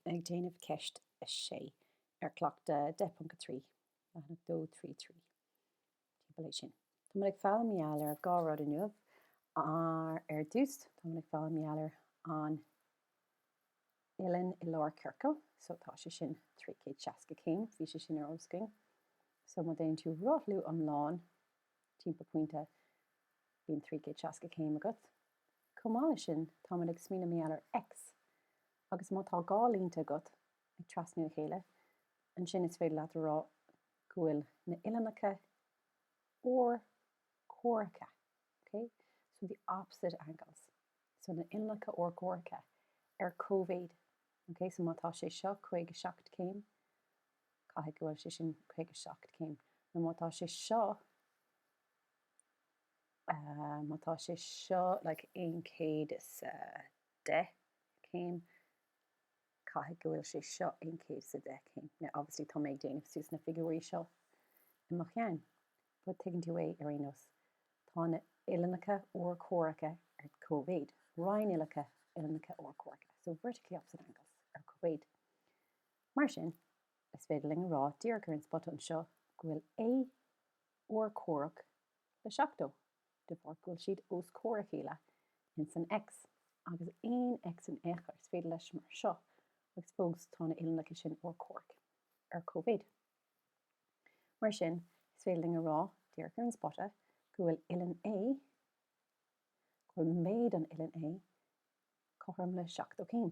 ag déanamh Ceist 6 ar Chleachtadh 10.3, leathanach 233, timpeall é sin. Tá muid ag foghlaim gheall ar dhá rud inniu. Ar dtús, tá muid ag foghlaim gheall ar an uillinn i lár ciorcail. So tá sé sin trí chéad seasca céim. Bhí sé sin ar eolas againn. So má déanann tú rothlú iomlán timpeall pointe, bíonn trí chéad seasca céim agat. Chomh maith le sin, tá muid ag smaoineamh gheall ar X. Agus má tá dhá línte agat ag trasnú a chéile, ansin is féidir leat a rá go bhfuil na uillinneacha urchomhaireacha. Ok? So the opposite angles. So na uillinneacha urchomhaireacha ar cóimhéid. Ok? So má tá sé seo caoga seacht céim, caithfidh go bhfuil sé sin caoga seacht céim. Nó má tá sé seo, eh, má tá sé seo like aon céad is a 10 céim, caithfidh go bhfuil sé seo aon céad is a 10 céim. Now obviously tá mé ag déanamh suas na figiúirí seo i mo cheann but tuigeann tú é ar aon nós. Tá na uillinneacha urchomhaireacha ar cóimhéid, rinnuillinneacha, uillinneacha urchomhaireacha, so vertically opposite angles, ar cóimhéid. Mar sin, is féidir linn a rá díreach ar an spota anseo go bhfuil A urchomhaireach le 70. de bharr go bhfuil siad os comhair a chéile ins an X. Agus aon X in ao'chor is féidir leis mar seo, agus fós tá na uillinneacha sin urchomhaireach ar cóimhéid. Mar sin, is féidir linn a rá, díreach ar an spota, go bhfuil uillinn A, go bhfuil méid an uillinn A cothrom le seachtó céim.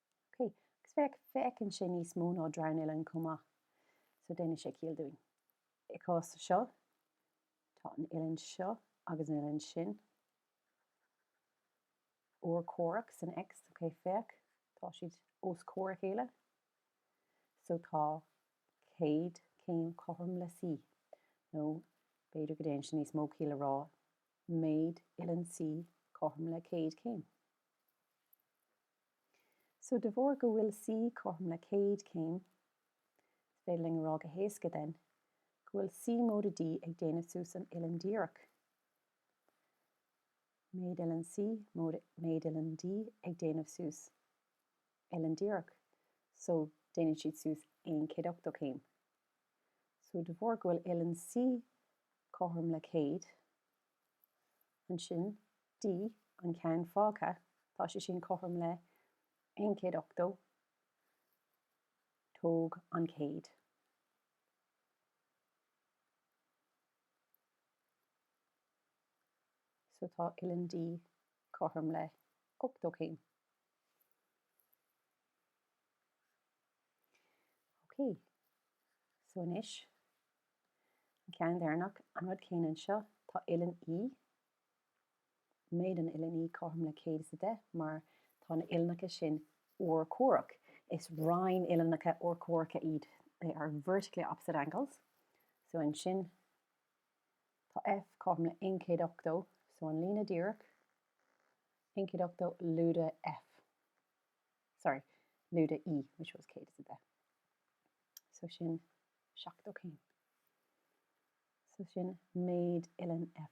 OK. Agus féach, féachann sé níos mó ná dronuillinn chomh maith. So déanann sé ciall dúinn. I gcás seo, tá an uillinn seo agus an uillinn sin urchomhaireach san X. OK, féach, tá siad os comhair a chéile. So tá 100 céim cothrom le C. Nó b'fhéidir go ndéanann sé níos mó ciall a rá méid uillinn C cothrom le 100 céim. So de bharr go bhfuil C cothrom le céad céim, is féidir linn a rá go héasca then, go bhfuil C móide D ag déanamh suas an uillinn díreach. Méid uillinn C móide méid uillinn D ag déanamh suas uillinn díreach. So déanann siad suas aon céad ochtó céim. So de bharr go bhfuil uillinn C cothrom le céad, Ansin D, an ceann fágtha, tá sé sin cothrom le 1 180, tóg an chéad. So tá uilleann D cothrom le 80 céim. Ok, so anois An ceann deireanach, an rud céanna anseo, tá Uillinn E, méid an Uillinn E cothrom le céad is a deich mar tá na uillinneacha sin urchomhaireach, is rinnuillinneacha urchomhaireacha iad, they are vertically opposite angles. So ansin tá F cothrom le aon chéad ochtó, so an líne díreach, aon chéad ochtó lúide F. sorry, lúide E, which was céad is a deich. So sin seachtó céim. So sin méid uilleann F.